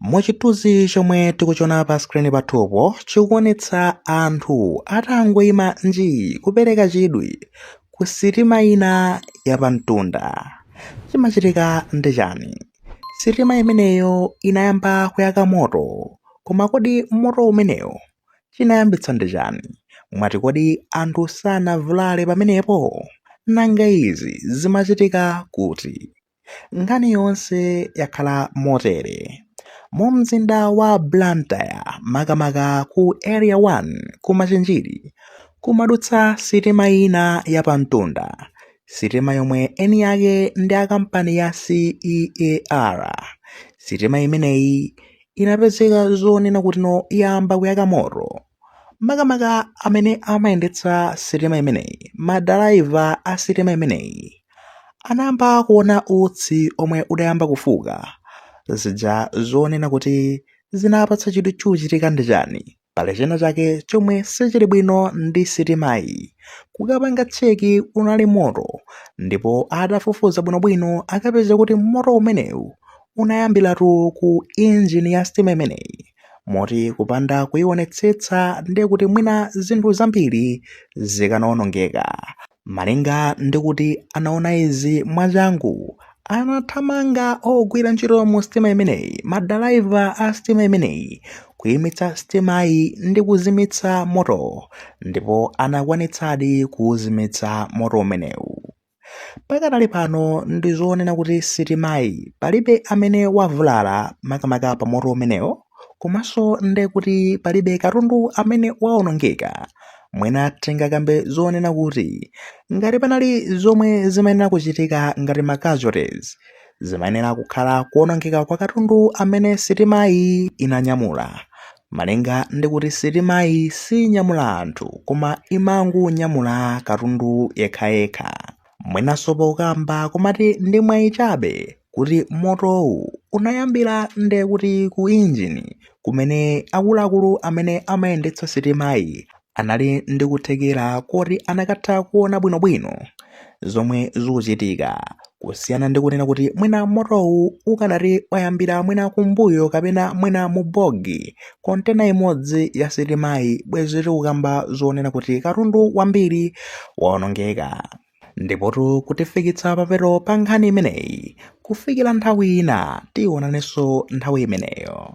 Muchithunzi chomwe tikuchiona pa screen pathupo chikuonetsa anthu atangoima njii kupereka chidwi ku sitima ina yapamtunda. Chimachitika ndi chani? Sitima imeneyo inayamba kuyaka moto. Koma kodi moto umenewo chinayambitsa ndi chani? Mwati kodi anthu sanavulale pamenepo? Nanga izi zimachitika kuti? Nkhani yonse yakhala motere. Mu mzinda wa Blantyre makamaka ku Area 1 ku Machinjiri kumadutsa sitima ina ya pamtunda. Sitima yomwe eni ake ndi a kampani ya CEAR. Sitima imeneyi inapezeka zonena kutino yayamba kuyaka moto. makamaka amene amayendetsa sitima imeneyi. Madalaiva a sitima imeneyi anayamba kuona utsi omwe udayamba kufuka. Zija zonena kuti zinapatsa chidwi chochitika ndi chani? Pali china chake chomwe sichili bwino ndi sitimayi. Kukapanga cheki unali moto ndipo adafufuza bwinobwino akapeza kuti moto umenewu unayambiratu ku injini ya sitima imeneyi. Moti kupanda kuionetsetsa ndiye kuti mwina zinthu zambiri zikanaonongeka. Malinga ndi kuti anaona izi mwachangu, anathamanga ogwira ntchito mu sitima imeneyi, madalaiva a sitima imeneyi, kuimitsa sitimayi ndi kuzimitsa moto, ndipo anakwanitsadi kuuzimitsa moto umenewu. Pakadali pano ndi zoonena kuti sitimayi palibe amene wavulala makamaka pa moto umenewo komanso nde kuti palibe katundu amene waonongeka mwina tingakambe zoonena kuti ngati panali zomwe zimayenera kuchitika ngati ma casualties zimayenera kukhala kuonongeka kwa katundu amene sitimayi inanyamula Malinga ndi kuti sitimayi sinyamula anthu koma imangonyamula katundu yekhayekha, mwinanso pokamba kumati ndi mwayi chabe kuti motowu unayambira ndekuti ku injini kumene akuluakulu amene amayendetsa sitimayi anali ndi kuthekera koti anakatha kuona bwinobwino zomwe zikuchitika kusiyana ndi kunena kuti mwina motowu ukanati wayambira mwina kumbuyo kapena mwina mu bogi kontena imodzi ya sitimayi bwezi tikukamba zonena kuti katundu wambiri waonongeka ndipotu kutifikitsa papeto pa nkhani imeneyi kufikira nthawi ina tionanenso nthawi imeneyo